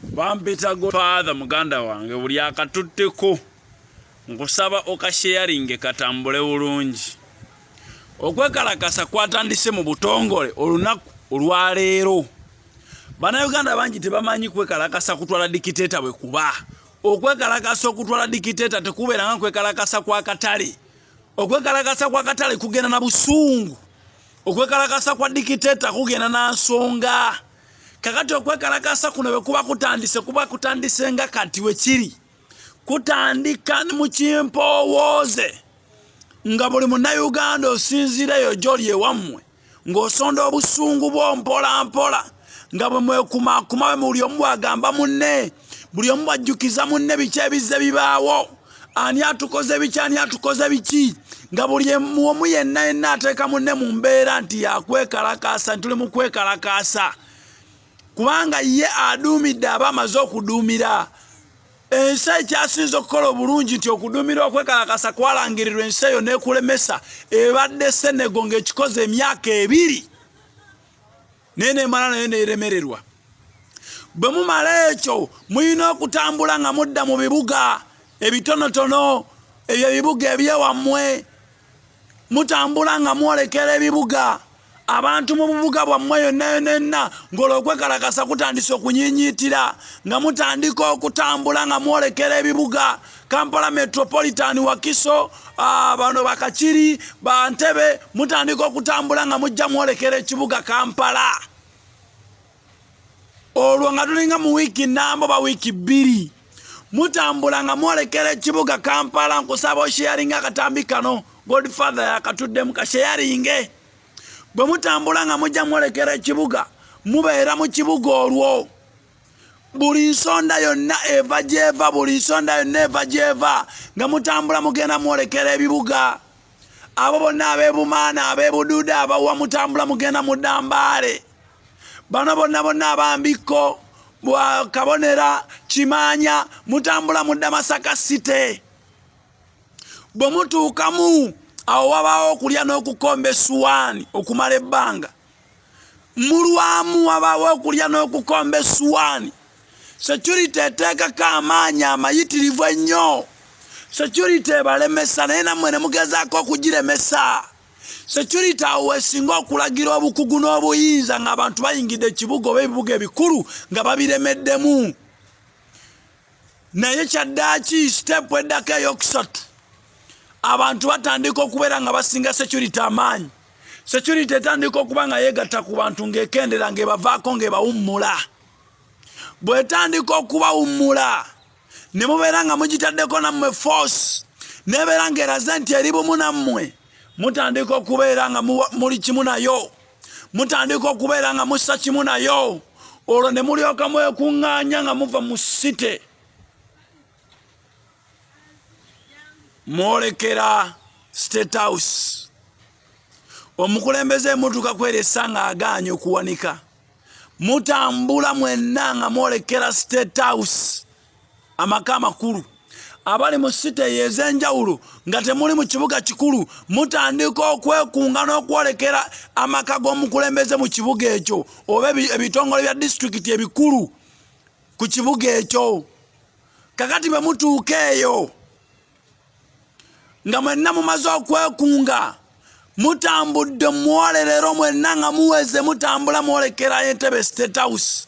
bampita godfather muganda wange buli akatutteko nkusaba okasheyaringe katambule bulungi okwekalakasa kwatandise mu butongole olunaku olwaleero banauganda bangi tebamanyi kwekalakasa kutwala dikiteeta bwe kuba okwekalakasa okutwala dikiteeta tekubeera nga kwekalakasa kwa katale okwekalakasa kwa katale kugenda na busungu okwekalakasa kwa dikiteeta kugenda na nsonga kakati okwekalakaasa kuno bwe kuba kutandise kuba kutandise nga kati we kiri kutandika mu kimpoowooze nga buli munnayuganda osinziireyo gyoli ewammwe ng'osonda obusungu bwo mpolampola nga bwe mwekumaakuma we muli omu bw'agamba munne buli omu bajjukiza munne biki ebizze bibaawo ani atukoze biki ani atukoze biki nga buli omu yenna yenna ateeka munne mu mbeera nti yakwekalakaasa nti tuli mu kwekalakaasa kubanga ye aduumidde aba amaze okuduumira ensi ekyasinza okukola obulungi nti okuduumira okwekalakasa kwalangirirwa ensi eyo n'ekulemesa ebadde senego ng'ekikoze emyaka ebiri naye nemala naye neremererwa bwe mumala ekyo mulina okutambula nga mudda mu bibuga ebitonotono ebyo ebibuga ebyewammwe mutambula nga mwolekera ebibuga abantu mu bubuga bwammwe yonna yona enna ng'olwo okwekalakasa kutandisa okunyiinyiitira nga mutandika okutambula nga mwolekera ebibuga kampala metropolitan wakiso ah, bano bakakiri bantebe mutandika okutambula nga mujja mwolekera ekibuga kampala olwo nga tulinga mu wiiki nambo ba wiiki bbiri mutambula nga mwolekera ekibuga kampala nkusaba osheyaringa akatambi kano godfather yakatuddemu kasheyaringe bwe mutambula nga mujja mwolekera ekibuga mubeera mu kibuga olwo buli nsonda yonna eva gyeva buli nsonda yonna eva gyeva nga mutambula mugenda mwolekera ebibuga abo bonna abebumaana abebuduuda abawa mutambula mugenda mudambaale bano bonna bonna abambikko bwakabonera kimaanya mutambula mudda masaka site bwe mutuukamu awo wabaawo okulya n'okukomba essuwaani okumala ebbanga mulwamu wabaawo okulya n'okukomba essuwaani securite eteekako amaanyi amayitirivu ennyo securite ebalemesa naye nammwe ne mugezaako okugiremesa securite awo wesinga okulagira obukugu n'obuyinza ng'abantu bayingidde ekibuga oba ebibuga ebikulu nga babiremeddemu naye kyaddaaki siteepu eddako eyokusatu abantu batandika okubeera nga basinga security amaanyi security etandika okuba nga yeegatta ku bantu ng'ekendera ng'ebavaako ng'ebawummula bwetandika okubawummula ne mubeera nga mugitaddeko nammwe force nebeera ng'eraze nti eri bumu nammwe mutandika okubeera nga muli kimu nayo mutandika okubeera nga mussa kimu nayo olwo ne mulyoka mwekuŋŋaanya nga muva mu site mwolekera state house omukulembeze emutuuka kweresa nga agaanyi okuwanika mutambula mwenna nga mwolekera state house amaka amakulu abali mu site eyo ez'enjawulo nga temuli mu kibuga kikulu mutandika okwekunga n'okwolekera amaka g'omukulembeze mu kibuga ekyo oba ebitongole bya disitulikiti ebikulu ku kibuga ekyo kakati bwe mutuuka eyo nga mwenna mumaze okwekunga mutambudde muwolerero mwenna nga muweze mutambula mwolekera entebe state house